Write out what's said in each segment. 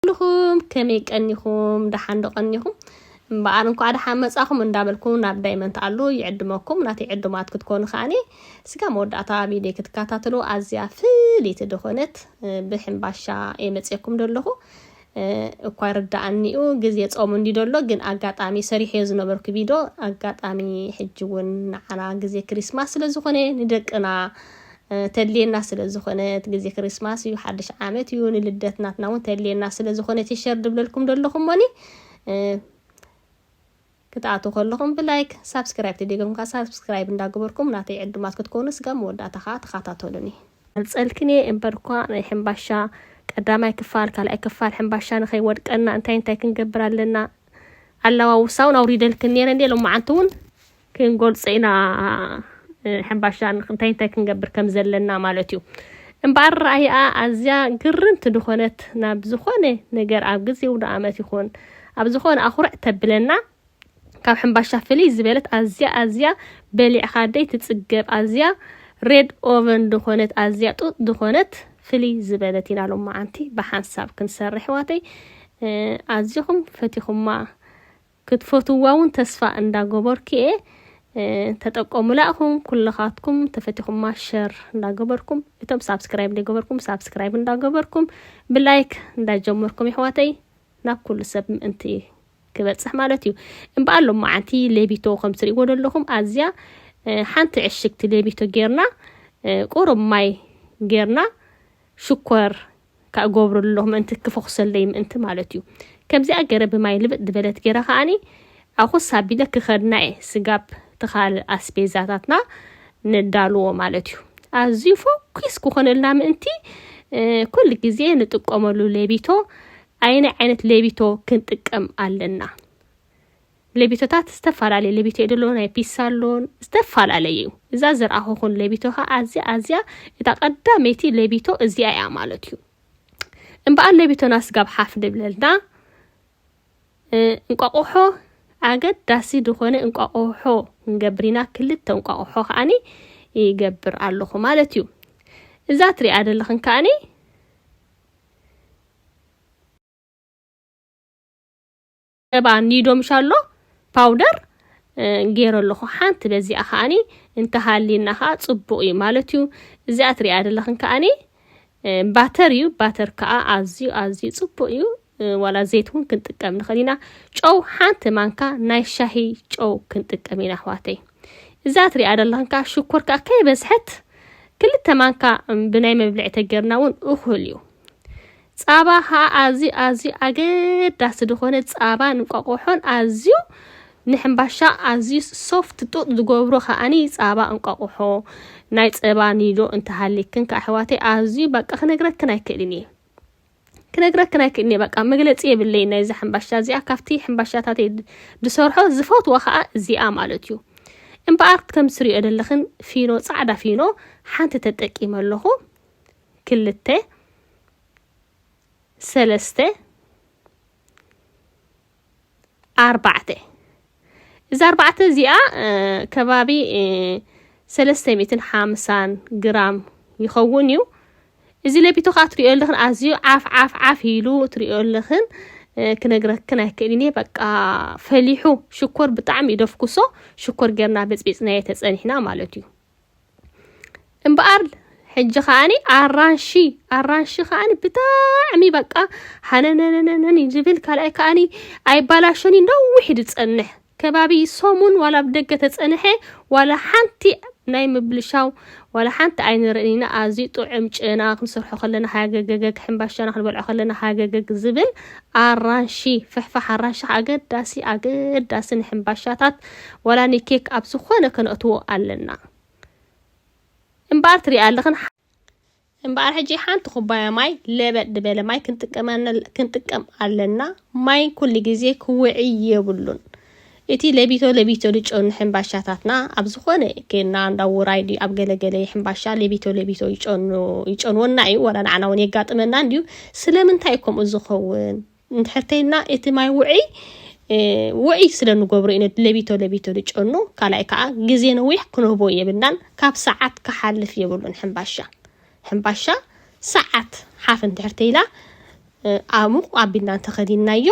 ኣለኹም ከመይ ቀኒኹም ደሓን ዶ ቀኒኹም እምበኣር እንኳዕ ደሓን መጻኹም እንዳበልኩ ናብ ዳይመንት ኣሉ ይዕድመኩም ናተይ ዕዱማት ክትኮኑ ከዓኒ ስጋ መወዳእታ ቪድዮ ክትከታተሉ ኣዝያ ፍልይቲ ዝኾነት ብሕምባሻ እየ መፅኩም ደለኹ እኳ ይርደኣኒ'ዩ ግዜ ጾም እንድዩ ደሎ ግን ኣጋጣሚ ሰሪሐዮ ዝነበርኩ ቪዶ ኣጋጣሚ ሕጂ ውን ንዓና ግዜ ክሪስማስ ስለ ዝኾነ ንደቅና ተድልየና ስለ ዝኾነት ግዜ ክሪስማስ እዩ ሓድሽ ዓመት እዩ ንልደት ናትና ውን ተድልየና ስለ ዝኾነት ሸር ድብለልኩም ደለኹ እሞኒ ክትኣትው ከለኹም ብላይክ ሳብስክራይብ ተደጊምካ ሳብስክራይብ እንዳገበርኩም ናተይ ዕዱማት ክትኮኑ ስጋብ መወዳእታ ከኣ ተኻታተሉኒ። ኣምጸልክን እየ እምበርኳ ናይ ሕምባሻ ቀዳማይ ክፋል ካልኣይ ክፋል ሕምባሻ ንኸይወድቀና እንታይ እንታይ ክንገብር ኣለና ኣላዋውሳ እውን ኣውሪደልክን ነረ እንዴ ሎማዓንቲ እውን ክንጎልጸ ኢና ሕምባሻ እንታይ እንታይ ክንገብር ከም ዘለና ማለት እዩ እምበኣር ረኣይኣ ኣዝያ ግርምቲ ዝኾነት ናብ ዝኾነ ነገር ኣብ ግዜ ውደ ኣመት ይኹን ኣብ ዝኾነ ኣኹርዕ ተብለና ካብ ሕምባሻ ፍልይ ዝበለት ኣዝያ ኣዝያ በሊዕኻ ደይ ትጽገብ ኣዝያ ሬድ ኦቨን ድኾነት ኣዝያ ጡጥ ድኾነት ፍልይ ዝበለት ኢና ሎማዓንቲ ብሓንሳብ ክንሰርሕ ኣሕዋተይ ኣዝኹም ፈቲኹማ ክትፈትዋ እውን ተስፋ እንዳገበርኩ እየ ተጠቀሙላ እኹም ኩልኻትኩም ተፈቲኹማ ሸር እንዳገበርኩም እቶም ሳብስክራይብ ዘይገበርኩም ሳብስክራይብ እንዳገበርኩም ብላይክ እንዳጀመርኩም ይሕዋተይ ናብ ኩሉ ሰብ ምእንቲ ክበፅሕ ማለት እዩ እምበኣር ሎማዓንቲ ሌቢቶ ከም ትሪእዎ ዘለኹም ኣዝያ ሓንቲ ዕሽግቲ ሌቢቶ ጌርና ቁሩብ ማይ ጌርና ሽኮር ካብ ገብሩ ኣለኹ ምእንቲ ክፈኹሰለይ ምእንቲ ማለት እዩ ከምዚኣ ገረ ብማይ ልብጥ ዝበለት ገረ ከዓኒ ኣኹስ ኣቢለ ክኸድና እየ ስጋብ ትኻል ኣስቤዛታትና ነዳልዎ ማለት እዩ። ኣዝዩ ፎኪስ ክኾነልና ምእንቲ ኩል ግዜ ንጥቀመሉ ሌቢቶ ኣየናይ ዓይነት ሌቢቶ ክንጥቀም ኣለና? ሌቢቶታት ዝተፈላለየ ሌቢቶ እዩ ደሎ ናይ ፒሳ ኣሎን ዝተፈላለየ እዩ። እዛ ዝረኣኹኹን ሌቢቶ ኸ ኣዝያ ኣዝያ እታ ቀዳመይቲ ሌቢቶ እዚኣ እያ ማለት እዩ። እምበኣር ሌቢቶና ስጋብ ሓፍ ንብለልና እንቋቑሖ ኣገዳሲ ዝኾነ እንቋቑሖ ንገብር ኢና ክልተ እንቋቑሖ ከዓኒ ይገብር ኣለኹ ማለት እዩ እዛ ትሪኣ ዘለኽን ከዓኒ ሰባ ኒዶ ምሻሎ ፓውደር ገይረ ኣለኹ ሓንቲ በዚኣ ከዓኒ እንተሃልየና ከዓ ፅቡቅ እዩ ማለት እዩ እዚኣ ትሪኣ ዘለኽን ከዓኒ ባተር እዩ ባተር ከዓ ኣዝዩ ኣዝዩ ፅቡቅ እዩ ዋላ ዘይት እውን ክንጥቀም ንኽእል ኢና ጨው ሓንቲ ማንካ ናይ ሻሂ ጨው ክንጥቀም ኢና ኣሕዋተይ እዛ ትሪኣ ደለኽን ከዓ ሽኮር ከዓ ከይበዝሐት ክልተ ማንካ ብናይ መብልዒ ተገርና እውን እኹል እዩ ፃባ ከዓ ኣዝዩ ኣዝዩ ኣገዳሲ ዝኾነ ፃባን እንቋቆሖን ኣዝዩ ንሕምባሻ ኣዝዩ ሶፍት ጡጥ ዝገብሮ ከዓኒ ፃባ እንቋቆሖ ናይ ፀባ ኒዶ እንተሃሊክን ከኣሕዋተይ ኣዝዩ በቃ ክነግረክን ኣይክእልን እየ ክነግረክን ኣይክእልን እየ በቃ መግለፂ የብለይ ናይዛ ሕምባሻ እዚኣ ካብቲ ሕምባሻታት ዝሰርሖ ዝፈትዎ ከዓ እዚኣ ማለት እዩ እምበኣር ከም ትሪኦ ዘለኽን ፊኖ ፃዕዳ ፊኖ ሓንቲ ተጠቂመ ኣለኹ ክልተ ሰለስተ ኣርባዕተ እዚ ኣርባዕተ እዚኣ ከባቢ ሰለስተ ሚእትን ሓምሳን ግራም ይኸውን እዩ እዚ ለቢቶ ከዓ ትሪኦ ኣለኽን ኣዝዩ ዓፍ ዓፍ ዓፍ ኢሉ ትሪኦ ኣለኽን ክነግረክን ኣይክእልን እየ በቃ ፈሊሑ ሽኮር ብጣዕሚ እዩ ደፍኩሶ ሽኮር ጌርና በፅቢፅናዮ ተፀኒሕና ማለት እዩ እምበኣር ሕጂ ከዓኒ ኣራንሺ ኣራንሺ ከዓኒ ብጣዕሚ በቃ ሃነነነነን እዩ ዝብል ካልኣይ ከዓኒ ኣይባላሸን እዩ ነዊሕ እዩ ዝጸንሕ ከባቢ ሰሙን ዋላ ኣብ ደገ ተጸንሐ ዋላ ሓንቲ ናይ ምብልሻው ዋላ ሓንቲ ኣይንርእን ኢና ኣዝዩ ጥዑም ጨና ክንሰርሖ ከለና ሃገገገግ ሕምባሻና ክንበልዖ ከለና ሃገገግ ዝብል ኣራንሺ ፍሕፋሕ ኣራንሺ ኣገዳሲ ኣገዳሲ ንሕምባሻታት ዋላ ንኬክ ኣብ ዝኾነ ከነእትዎ ኣለና እምበኣር ትሪኣ ኣለኽን እምበኣር ሕጂ ሓንቲ ኩባያ ማይ ለበጥ ድበለ ማይ ክንጥቀም ኣለና ማይ ኩሉ ግዜ ክውዒ የብሉን እቲ ለቢቶ ለቢቶ ልጮኑ ሕምባሻታትና ኣብ ዝኾነ ኬና እንዳ ውራይ ድዩ ኣብ ገለገለ ሕምባሻ ለቢቶ ለቢቶ ይጨኑ ይጨንወና እዩ ዋላ ንዓና እውን የጋጥመና እንድዩ ስለምንታይ ከምኡ ዝኸውን እንድሕር ተይልና እቲ ማይ ውዕይ ውዕይ ስለ ንገብሮ ኢና ለቢቶ ለቢቶ ንጨኑ ካልኣይ ከዓ ግዜ ነዊሕ ክንህቦ የብልናን ካብ ሰዓት ክሓልፍ የብሉን ሕምባሻ ሕምባሻ ሰዓት ሓፍ እንድሕር ተይላ ኣሙቕ ኣቢልና እንተኸዲንናዮ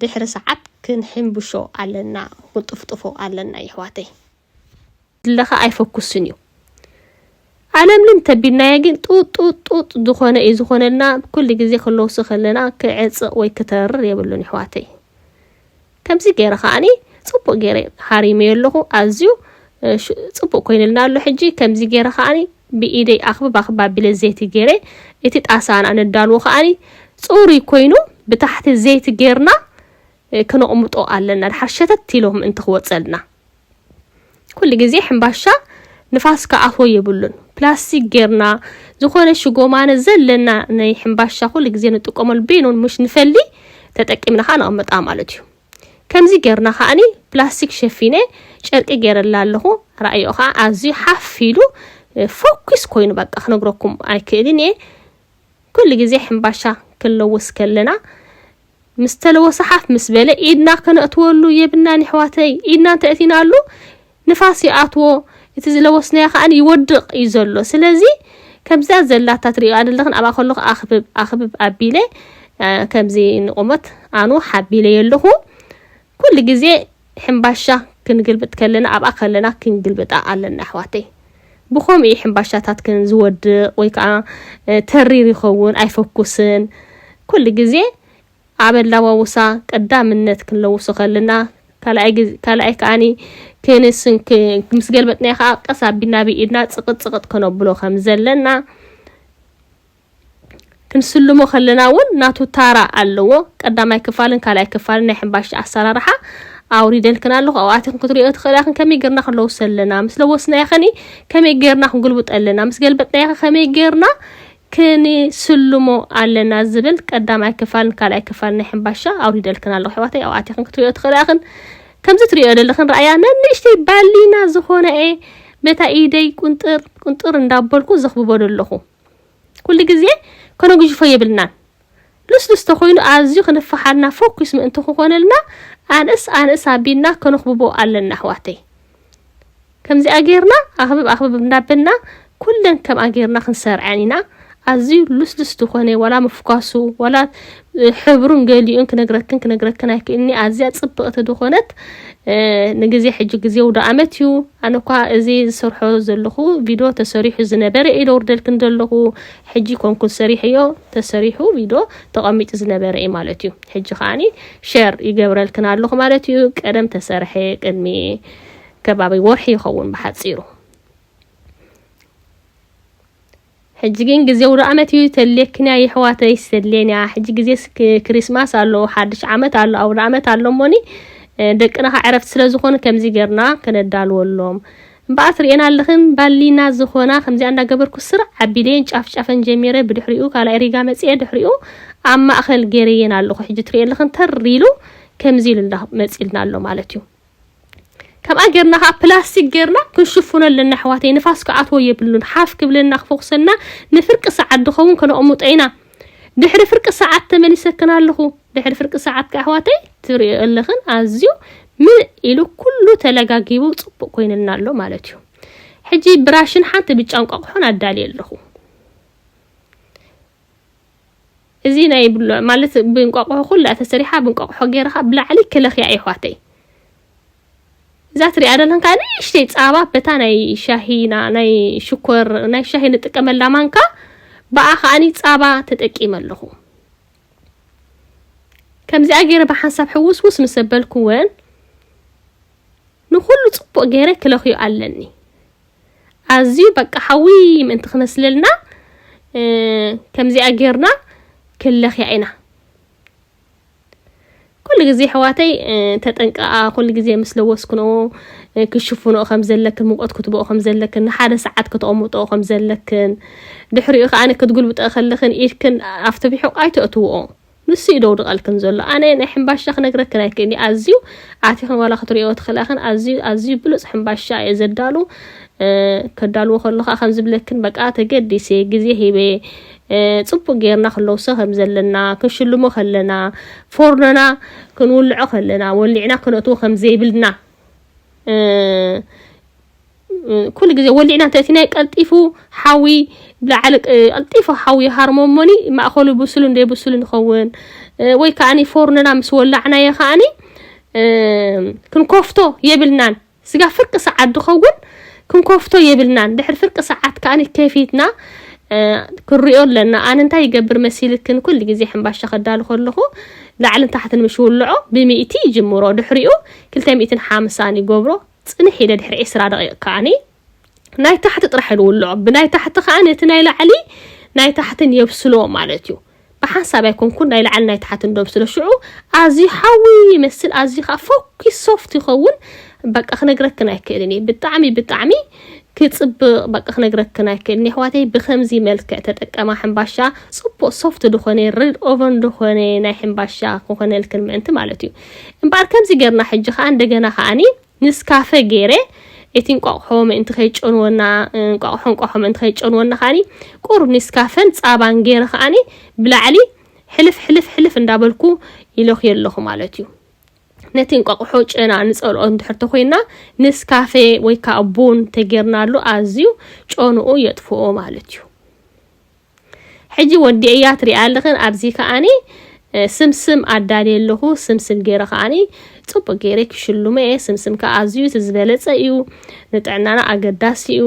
ድሕሪ ሰዓት ክንሕምብሾ ኣለና ክንጥፍጥፎ ኣለና ይሕዋተይ ዝለኸ ኣይፈኩስን እዩ ኣለምልም ተቢልናዮ ግን ጡጡጡጥ ዝኾነ እዩ ዝኾነልና ኩሉ ግዜ ክለውሲ ከለና ክዕፅቕ ወይ ክተርር የብሉን ይሕዋተይ ከምዚ ገይረ ከዓኒ ፅቡቅ ገይረ ሃሪመዮ ኣለኹ ኣዝዩ ፅቡቅ ኮይንልና ኣሎ ሕጂ ከምዚ ገይረ ከዓኒ ብኢደይ ኣኽብብ ኣኽብብ ኣቢለ ዘይቲ ገይረ እቲ ጣሳና ነዳልዎ ከዓኒ ፅሩይ ኮይኑ ብታሕቲ ዘይቲ ገይርና ክነቕምጦ ኣለና ድሓር ሸተት ኢሎም እንተ ክወፀልና ኩሉ ግዜ ሕምባሻ ንፋስ ከኣቶ የብሉን ፕላስቲክ ጌርና ዝኾነ ሽጎማነ ዘለና ናይ ሕምባሻ ኩሉ ግዜ ንጥቀመሉ ቤኖን ምሽ ንፈሊ ተጠቂምና ከዓ ነቐምጣ ማለት እዩ ከምዚ ጌርና ከዓኒ ፕላስቲክ ሸፊነ ጨርቂ ጌረላ ኣለኹ ራእዮ ከዓ ኣዝዩ ሓፍ ኢሉ ፎኪስ ኮይኑ በቃ ክነግረኩም ኣይክእልን እየ ኩሉ ግዜ ሕምባሻ ክንለውስ ከለና ምስ ተለወሰ ሓፍ ምስ በለ ኢድና ከነእትወሉ የብናን ይሕዋተይ ኢድና እንተእቲናሉ ንፋስ ይኣትዎ እቲ ዝለወስናዮ ከኣ ይወድቕ እዩ ዘሎ ስለዚ ከምዚኣ ዘላታ ትሪእዋ ዘለኽን ኣብኣ ከለኹ ኣኽብብ ኣኽብብ ኣቢለ ከምዚ ንቑመት ኣኑ ሓቢለዮ ኣለኹ ኩሉ ግዜ ሕምባሻ ክንግልብጥ ከለና ኣብኣ ከለና ክንግልብጣ ኣለና ኣሕዋተይ ብከምኡ እዩ ሕምባሻታትክን ዝወድቅ ወይ ከዓ ተሪር ይኸውን ኣይፈኩስን ኩሉ ግዜ ኣብ ኣላዋውሳ ቀዳምነት ክንለውሶ ከለና ካልኣይ ከዓኒ ክንስን ምስ ገልበጥናዮ ከዓ ቀስ ኣቢልና ብኢድና ፅቅጥ ፅቅጥ ከነብሎ ከም ዘለና ክንስልሞ ከለና እውን ናቱ ታራ ኣለዎ። ቀዳማይ ክፋልን ካልኣይ ክፋልን ናይ ሕምባሻ ኣሰራርሓ ኣውሪደልክን ኣለኹ ኣብኣትኽን ክትሪኦ ትኽእላ ክን ከመይ ጌርና ክንለውሶ ኣለና ምስ ለወስናዮ ኸኒ ከመይ ጌርና ክንጉልብጦ ኣለና ምስ ገልበጥናዮ ኸ ከመይ ጌርና ክንስልሞ ኣለና ዝብል ቀዳማይ ክፋልን ካልኣይ ክፋልን ናይ ሕምባሻ ኣውሪደልክን ኣለኹ ኣሕዋተይ ኣብኣትኽን ክትሪኦ ትኽእላ ክን ከምዚ ትሪኦ ዘለኽን ረኣያ ነንእሽተይ ባሊና ዝኾነ እየ በታ ኢደይ ቁንጥር ቁንጥር እንዳበልኩ ዘኽብበሉ ኣለኹ ኩሉ ግዜ ከነጉጅፎ የብልናን። ልስሉስ ተኮይኑ ኣዝዩ ክንፋሓልና ፎኪስ ምእንቲ ክኮነልና ኣንእስ ኣንእስ ኣቢልና ከነክብቦ ኣለና ኣሕዋተይ። ከምዚኣ ጌርና ኣክብብ ኣክብብ እንዳበልና ኩለን ከምኣ ጌርና ክንሰርዐን ኢና። ኣዝዩ ልስሉስ ድኮነ ዋላ ምፍኳሱ ዋላ ሕብሩን ገሊኡን ክነግረክን ክነግረክን ኣይክእልኒ ኣዝያ ጽብቕቲ ዝኾነት ንግዜ ሕጂ ግዜ ውዶ ኣመት እዩ ኣነ እኳ እዚ ዝሰርሖ ዘለኹ ቪድዮ ተሰሪሑ ዝነበረ እዩ ደውርደልክን ዘለኹ ሕጂ ኮንኩን ሰሪሐዮ ተሰሪሑ ቪድዮ ተቐሚጡ ዝነበረ እዩ ማለት እዩ ሕጂ ከዓኒ ሸር ይገብረልክን ኣለኹ ማለት እዩ ቀደም ተሰርሐ ቅድሚ ከባቢ ወርሒ ይኸውን ብሓጺሩ ሕጂ ግን ግዜ ውዳኣመት እዩ ተድልየክንያ የሕዋተይ ተድልየንያ ሕጂ ግዜ ክሪስማስ ኣሎ ሓድሽ ዓመት ኣሎ ኣውዳኣመት ኣሎ እሞኒ ደቅና ከ ዕረፍቲ ስለ ዝኾኑ ከምዚ ገርና ከነዳልወሎም እምበኣር ትርእየና ኣለኽን ባሊና ዝኾና ከምዚኣ እንዳገበርኩ ስርዕ ኣቢለየን ጫፍ ጫፈን ጀሚረ ብድሕሪኡ ካልኣይ ሪጋ መጽኤ ድሕሪኡ ኣብ ማእኸል ገይረየን ኣለኹ ሕጂ ትርእየ ኣለኽን ተር ኢሉ ከምዚ ኢሉ መጺልና ኣሎ ማለት እዩ ከምኣ ጌርና ከዓ ፕላስቲክ ጌርና ክንሽፍኖ ኣለና ኣሕዋተይ ንፋስ ክኣትዎ የብሉን ሓፍ ክብለና ክፎክሰና ንፍርቂ ሰዓት ዝኸውን ከነቕምጦ ኢና ድሕሪ ፍርቂ ሰዓት ተመሊሰክን ኣለኹ ድሕሪ ፍርቂ ሰዓት ከዓ ኣሕዋተይ ትሪኦ ኣለኽን ኣዝዩ ምልእ ኢሉ ኩሉ ተለጋጊቡ ፅቡቅ ኮይንልና ኣሎ ማለት እዩ ሕጂ ብራሽን ሓንቲ ብጫ እንቋቑሖን ኣዳልየ ኣለኹ እዚ ናይ ብሎዕ ማለት ብእንቋቑሖ ኩላ ተሰሪሓ ብእንቋቑሖ ገይርኻ ብላዕሊ ክለኽያ የሕዋተይ እዛ ትሪኣ ዘለኹም ከዓ ንእሽተይ ፃባ በታ ናይ ሻሂና ናይ ሽኮር ናይ ሻሂ ንጥቀመላ ማንካ ብኣ ከዓኒ ፃባ ተጠቂመ ኣለኹ ከምዚኣ ገይረ ብሓንሳብ ሕውስውስ ምስ ኣበልኩወን ንኩሉ ፅቡቅ ገይረ ክለኽዮ ኣለኒ ኣዝዩ በቃ ሓዊ ምእንቲ ክመስለልና ከምዚኣ ጌርና ክንለኽያ ኢና። ኩሉ ግዜ ኣሕዋተይ ተጠንቀቓ፣ ኩሉ ግዜ ምስ ለወስክንኦ ክሽፍንኦ ከም ዘለክን ሙቀት ክትብኦ ከም ዘለክን ንሓደ ሰዓት ከተቐምጥኦ ከም ዘለክን ድሕሪኡ ከኣ ክትጉልብጠ ከለኽን ኢድክን ኣብቲ ብሑቕ ኣይተእትውኦ ንሱ እዩ ደውድቐልክን ዘሎ ኣነ ናይ ሕምባሻ ክነግረክን ኣይክእልን እዩ ኣዝዩ ኣቲኽን ዋላ ክትሪኦ ትኽእላ ክን ኣዝዩ ኣዝዩ ብሉፅ ሕምባሻ እየ ዘዳሉ ከዳልዎ ከሎ ከዓ ከም ዝብለክን በቃ ተገዲሰ ግዜ ሂበ ፅቡቅ ጌርና ክለውሶ ከም ዘለና ክንሽልሞ ከለና ፎርኖና ክንውልዖ ከለና ወሊዕና ክነእትዎ ከም ዘይብልና ኩሉ ግዜ ወሊዕና እንተእቲናዮ ቀልጢፉ ሓዊ ብላዕሊ ቀልጢፉ ሓዊ ይሃርሞ እሞኒ ማእኸሉ ብሱልን ዘይብሱልን ይኸውን ወይ ከዓኒ ፎርንና ምስ ወላዕናዮ ከዓኒ ክንኮፍቶ የብልናን ስጋ ፍርቂ ሰዓት ዝኸውን ክንኮፍቶ የብልናን ድሕሪ ፍርቂ ሰዓት ከዓኒ ከፊትና ክንሪኦ ኣለና ኣነ እንታይ ይገብር መሲልክን ኩሉ ግዜ ሕምባሻ ከዳሉ ከለኹ ላዕልን ታሕትን ምስ ውልዖ ብሚእቲ ይጅምሮ ድሕሪኡ ክልተ ሚእትን ሓምሳን ይገብሮ ጽንሕ ኢለ ድሕሪ ዕስራ ደቒቕ ከኣ ናይ ታሕቲ ጥራሕ ንውልዖ፣ ብናይ ታሕቲ ከኣ ነቲ ናይ ላዕሊ ናይ ታሕቲ ንየብስሎ ማለት እዩ። ብሓንሳብ ኣይኮንኩን ናይ ላዕሊ ናይ ታሕቲ ንዶብስሎ፣ ሽዑ ኣዝዩ ሓዊ ይመስል ኣዝዩ ከኣ ፈኲስ ሶፍት ይኸውን፣ በቃ ክነግረክን ኣይክእልን እየ ብጣዕሚ ብጣዕሚ ክጽብቕ በቃ ክነግረክን ኣይክእልን የሕዋተይ ብከምዚ መልክዕ ተጠቀማ ሕምባሻ ጽቡቕ ሶፍት ዝኾነ ሬድ ኦቨን ዝኾነ ናይ ሕምባሻ ክኾነልክን ምእንቲ ማለት እዩ። እምበኣር ከምዚ ጌርና ሕጂ ከኣ እንደገና ከኣኒ ንስካፈ ጌረ እቲ እንቋቑሖ ምእንቲ ከይጨንወና እንቋቑሖ እንቋቑሖ ምእንቲ ከይጨንወና ከኣኒ ቁሩብ ኔስካፈን ጻባን ጌረ ከኣኒ ብላዕሊ ሕልፍ ሕልፍ ሕልፍ እንዳበልኩ ይለኽዮ ኣለኹ ማለት እዩ ነቲ እንቋቑሖ ጨና ንጸልኦ እንድሕር ተኮይና ንስካፈ ወይ ከዓ ቡን ተጌርናሉ ኣዝዩ ጨንኡ የጥፍኦ ማለት እዩ ሕጂ ወዲኤያ ትሪኣ ኣለኽን ኣብዚ ከኣኒ ስምስም ኣዳልየ ኣለኹ ስምስም ገይረ ከኣኒ ፅቡቅ ገይረ ክሽልሞ እየ ስምስም ከዓ ኣዝዩ እቲ ዝበለፀ እዩ ንጥዕናና ኣገዳሲ እዩ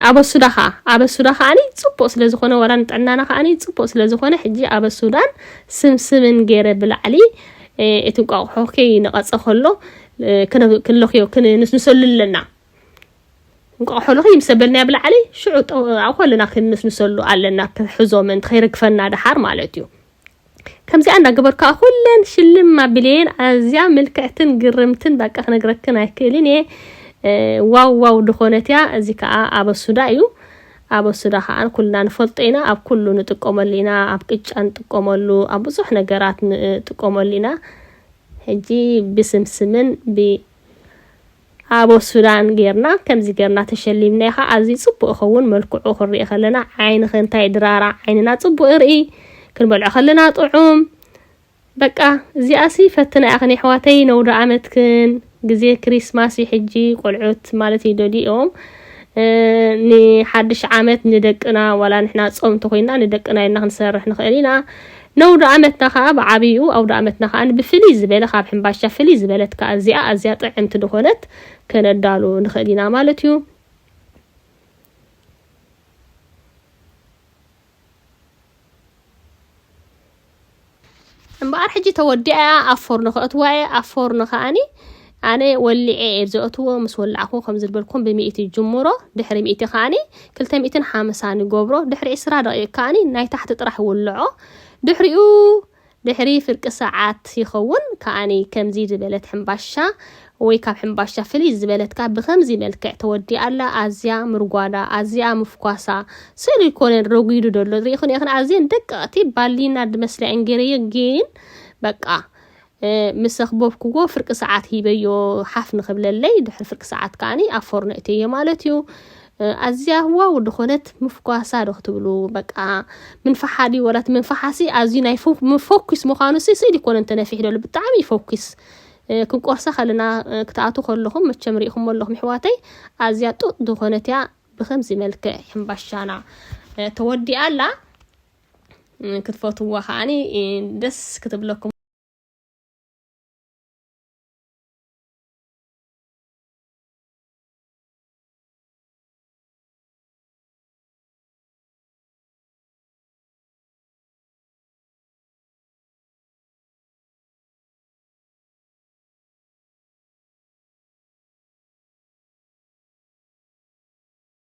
ኣበሱዳ ከዓ ኣበሱዳ ከዓኒ ፅቡቅ ስለዝኾነ ዋላ ንጥዕናና ከዓኒ ፅቡቅ ስለዝኾነ ሕጂ ኣበሱዳን ስምስምን ገይረ ብላዕሊ እቲ እንቋቑሖ ከይነቐፀ ከሎ ክንለኽዮ ክንሰሉ ኣለና እንቋዕ ሆሎኺ ምስ ኣበልናዮ ብላዕሊ ሽዑ ጠንቕቓ ኮለና ክንምስምሰሉ ኣለና ክሕዞ ምእንቲ ከይርግፈና ደሓር ማለት እዩ ከምዚኣ እንዳገበርካ ኩለን ሽልም ኣቢለየን ኣዝያ ምልክዕትን ግርምትን በቃ ክነግረክን ኣይክእልን እየ ዋው ዋው ድኾነት እያ እዚ ከዓ ኣበሱዳ እዩ ኣበሱዳ ከዓ ኩልና ንፈልጦ ኢና ኣብ ኩሉ ንጥቀመሉ ኢና ኣብ ቅጫ ንጥቀመሉ ኣብ ብዙሕ ነገራት ንጥቀመሉ ኢና ሕጂ ብስምስምን ብ ኣቦ ሱዳን ጌርና ከምዚ ጌርና ተሸሊምና ኢኻ ኣዝዩ ጽቡቅ ይኸውን መልክዑ ክንሪኢ ከለና ዓይንኺ እንታይ ድራራ ዓይንና ጽቡቅ ይርኢ ክንበልዖ ከለና ጥዑም በቃ እዚኣሲ ፈትና ኢኽን የሕዋተይ ነውዶ ኣመትክን ግዜ ክሪስማስ እዩ ሕጂ ቆልዑት ማለት እዩ ደሊኦም ንሓድሽ ዓመት ንደቅና ዋላ ንሕና ጾም እንተኮይንና ንደቅና ኢልና ክንሰርሕ ንኽእል ኢና ነውድኣመትና ከኣ ብዓብይኡ ኣውድኣመትና ከኣ ብፍልይ ዝበለ ካብ ሕምባሻ ፍልይ ዝበለት ከኣ እዚኣ ኣዝያ ጥዕምቲ ድኾነት ከነዳሉ ንኽእል ኢና ማለት እዩ። እምበኣር ሕጂ ተወዲኣያ ኣብ ፎርኖ ከእትዋ እየ ኣብ ፎርኖ ከኣኒ ኣነ ወሊዔ እየ ዘእትዎ ምስ ወላዕኩ ከም ዝልበልኩም ብሚእቲ ጅምሮ ድሕሪ ሚእቲ ከኣኒ ክልተ ሚእትን ሓምሳን ገብሮ ድሕሪ ዕስራ ደቂቅ ከኣኒ ናይ ታሕቲ ጥራሕ ውልዖ ድሕሪኡ ድሕሪ ፍርቂ ሰዓት ይኸውን ከኣኒ ከምዚ ዝበለት ሕምባሻ ወይ ካብ ሕምባሻ ፍልይ ዝበለት ካብ ብከምዚ መልክዕ ተወዲኣ ኣላ ኣዝያ ምርጓዳ ኣዝኣ ምፍኳሳ ስእሊ ኮነን ረጒዱ ደሎ ርኢኹን ኢኽን ኣዝየን ደቀቕቲ ባሊና ድመስላ እንጌረዮ ግን በቃ ምስ ዘኽበብክዎ ፍርቂ ሰዓት ሂበዮ ሓፍ ንክብለለይ ድሕሪ ፍርቂ ሰዓት ከዓኒ ኣብ ፎርኖ እተዮ ማለት እዩ ኣዝያ ዋው ድኾነት ምፍኳሳ ዶ ክትብሉ በቃ ምንፋሓ ድዩ ወላ እቲ ምንፋሓሲ ኣዝዩ ናይ ምፎኪስ ምዃኑ ሲ ስእሊ ኮነ እንተነፊሕ ደሉ ብጣዕሚ ይፎኪስ ክንቆርሳ ከለና ክትኣቱ ከለኹም መቸም ሪኢኹም ኣለኹም ኣሕዋተይ ኣዝያ ጡጥ ዝኾነት እያ ብከምዚ መልክዕ ሕምባሻና ተወዲኣ ኣላ ክትፈትዋ ከዓኒ ደስ ክትብለኩም